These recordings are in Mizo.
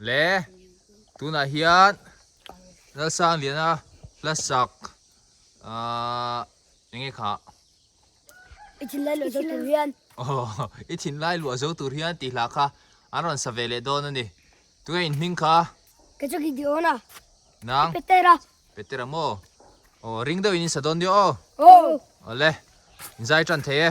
Le tunah hian Lalsangliana Hlasak aah eng nge kha? I thin lai luah zo tur hian. Aww i thin lai luah zo tur hian tih hlah kha an rawn sa ve leh dawn a ni. Tunge in hming kha? Ka chawk i ti awn a. Nang? Peter a. Peter a maw? Aww ring deuh in in sa dawn diau aw. Aww. Awle in zai tan thei e.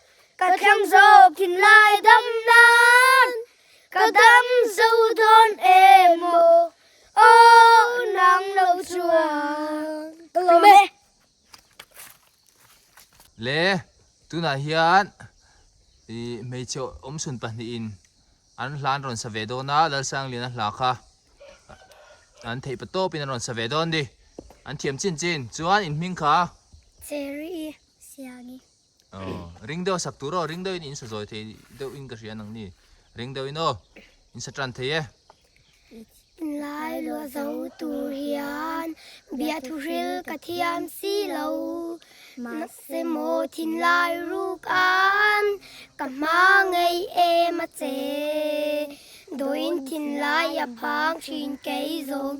ka thlang zawk thinlai dam nan ka dam zo dawn em o o nang lo chuan ka lo me le tunah hian i hmeichhe awmsun pahnihin an hlan rawn sa ve dawn a lalsangliana hla kha an theih pa tawp in an rawn sa ve dawn a ni an thiam chin chin chuan in hming kha cherry siagnge. Aw, ring deuh sak tur aw, ring deuhin in sa zawi thei deuh in ka hria nang ni. Ring deuh in aw, in sa tan thei e. Lai luah zo tur hian biah thuhril ka thiam si lo, mahse maw thinlai ruk an ka hma ngei em a che. Dawiin thinlai a phang thin kei zawng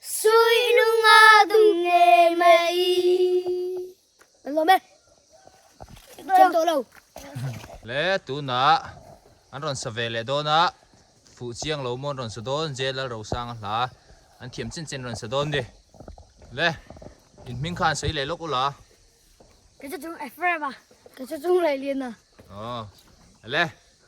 Suihnunga dum nge mai. Lom e. Chem to lo. Le tuna an rawn sa ve leh dawn a, fuh chiang lo mawn rawn sa dawn, J Lalrosanga hla an thiam chin chin rawn sa dawn ni. Le in hming kha an sawi leh lawk ula. Ka che chung Ephraim a. Ka che chung Lailiana. Aw. Le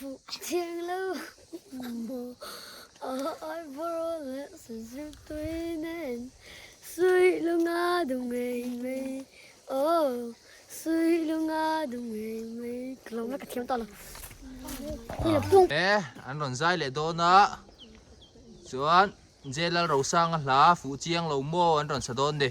Thianglo maw ai bawrh leh sa zir tui nen Sui lunga du ngei mai oh Sui lunga du ngei mai Lo la ka thiam ta lo Eh an rawn zai leh dawn a Chuan Jelal Rosanga hla fuh chiang lo maw an rawn sa dawn ni.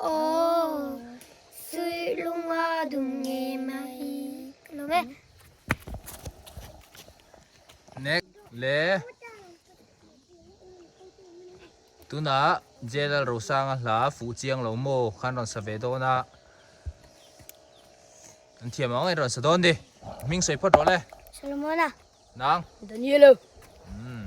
Aww suihlunga dum nge mai lo e. Next le tuna Jelal Rosanga hla fuh chiang lo maw khan rawn sa ve dawn a an thiam ang in rawn sa dawn di hming sawi phawt rawh le Solomona nang Daniela umm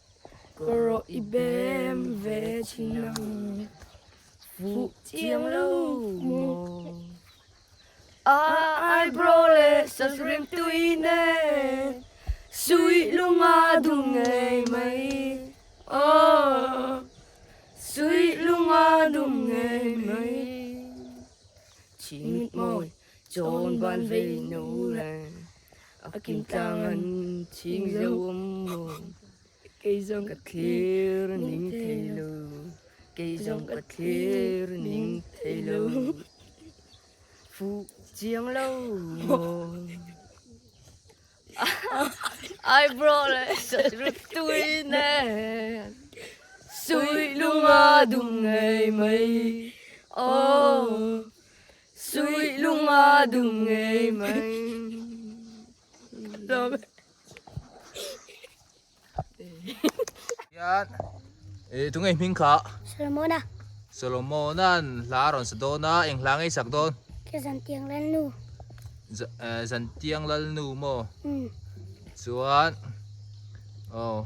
Ka rawh i bem ve thin ang fuh chiang lo maw Aa aibro le sasrim tui nen Suih lunga dum ngei mai aww Suih lunga dum ngei mai Chimit mawi chawn ban vei no le A kim tlang a ching zo awm maw Kei zawng ka thlir ning thei lo Kei zawng ka thlir ning thei lo Fuh chiang lo maw Ai bro le rut tui ne Suih lunga dum ngei mai Oh Suih lunga dum ngei mai Hlawm Hian E tu nge hming kha Solomona Solomona'n hla a rawn sa dawn a eng hla ngei sak dawn Ka Zantiang Lalnu Za eh Zantiang Lalnu maw umm chuan aw.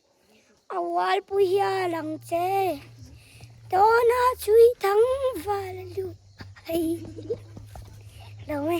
Awalpui hial ang che tawna chui thang val luh ai lo e.